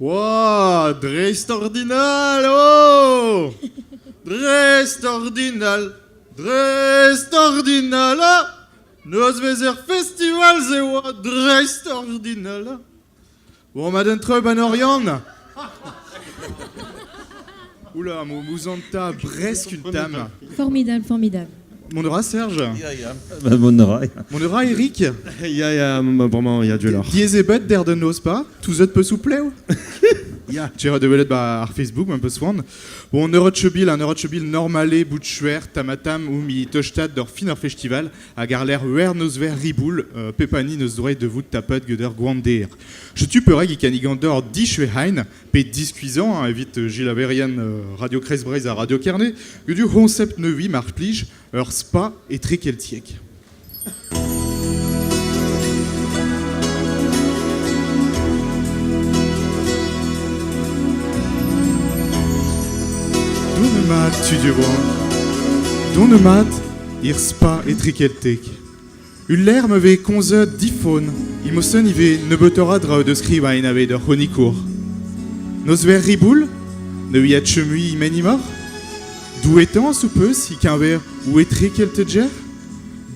Oa, dreistordinal oh! Dreistordinal, dreistordinal ah! Nozvezh er festival-se oa dreistordinal ah! Bon, ma den treup en Oriant Oula, m'ouzant ta, bresk une tame. Formidable, formidable. Mon aura, Serge Mon aura. Mon aura, Eric Ya, ya, vraiment, il y a du lor. Diezebet der de nos pas, tout zet peut soupleu Ja. Tu iras develet ba ar Facebook, un peu soan. Bon, Neurochebil, un Neurochebil normale, boutchuer, tamatam, ou mi teuchtat d'or fin ar festival, a garler wer neus ver riboul, euh, pepani neus droe de vout tapet geuder gwandeer. Je tu pereg ikan igandor dichwe hein, pe diskuizhañ evit gilaverien Radio Kreizh Breizh ha Radio Kerne, udu Concept Nevi, mar plij, ur spa etri-keltiek. Done mat, tu du bon. Done mat, ir spa etri-keltek. Ul lec'h ma vez komzet difon imosen ivez nebeutoc'h a draoù da skrivañ enavez d'ur c'hronikour. Nozvezh riboul ne ouiat chomi menimoc'h? Douetañs ho peus e-keñver ou etrekeltec'h?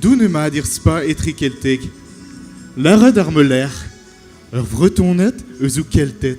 Doun emañ d'ir spa etrekeltek. Lâret ar meuler ur Vretoned eus ho Kelted.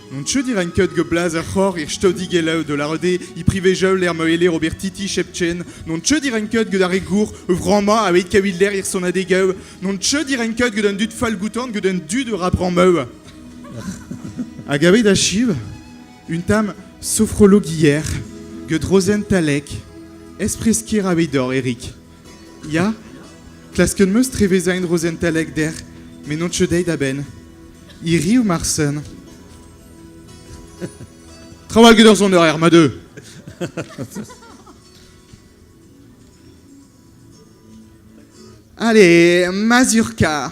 An cheu e rank kaout glaz ar c'hor er staodig-gelaou da lâret eo e privez-jaol er maoeler ober titi Chepchen. Non cheu e rank kaout gant ar re gour e vramañ a evit kaout lec'h er sonadegaou. Non cheu e rank kaout gant an dud fall-goutan gant an dud ur bramaou. Hag aveit achiv un tam sofrologier gant Rozen Talek, espreskir aveit dor Erik. Ya, klasket 'm eus trevezañ en rozentalek dec'h, met n'on ket dezhi da benn. Hiriv marsen. Traoù get ur soneraer, ma deu. Allez, mazurka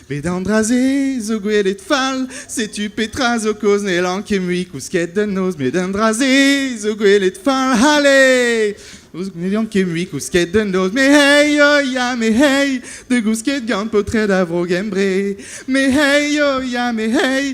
Met an dra-se zo gwelet fall, setu petra zo kaoz n'hellan ket mui kousket da noz, met an dra-se zo gwelet fall, allez Ne dean ket mui kousket da noz, me hey, oh ya, me hey, de gousket gant paotred a Vro-Gembre, me hey, oh ya, me hey,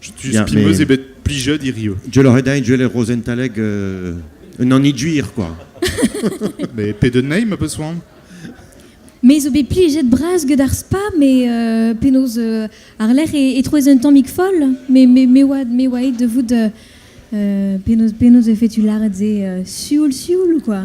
Spi meus eo bet plijet hirio. Jel oc'h edañ Jel e Rozentalek euh, un anidjuir, quoi. Mais pedenn nahi ma peus c'hoant Me zo bet plijet bras get ar spa, mais euh, penaos euh, ar lec'h e, e trouez un tammig foll, mais me, me oad me oa de vout euh, euh, penaos penaos e fait tu lâret se euh, sioul sioul ou quoi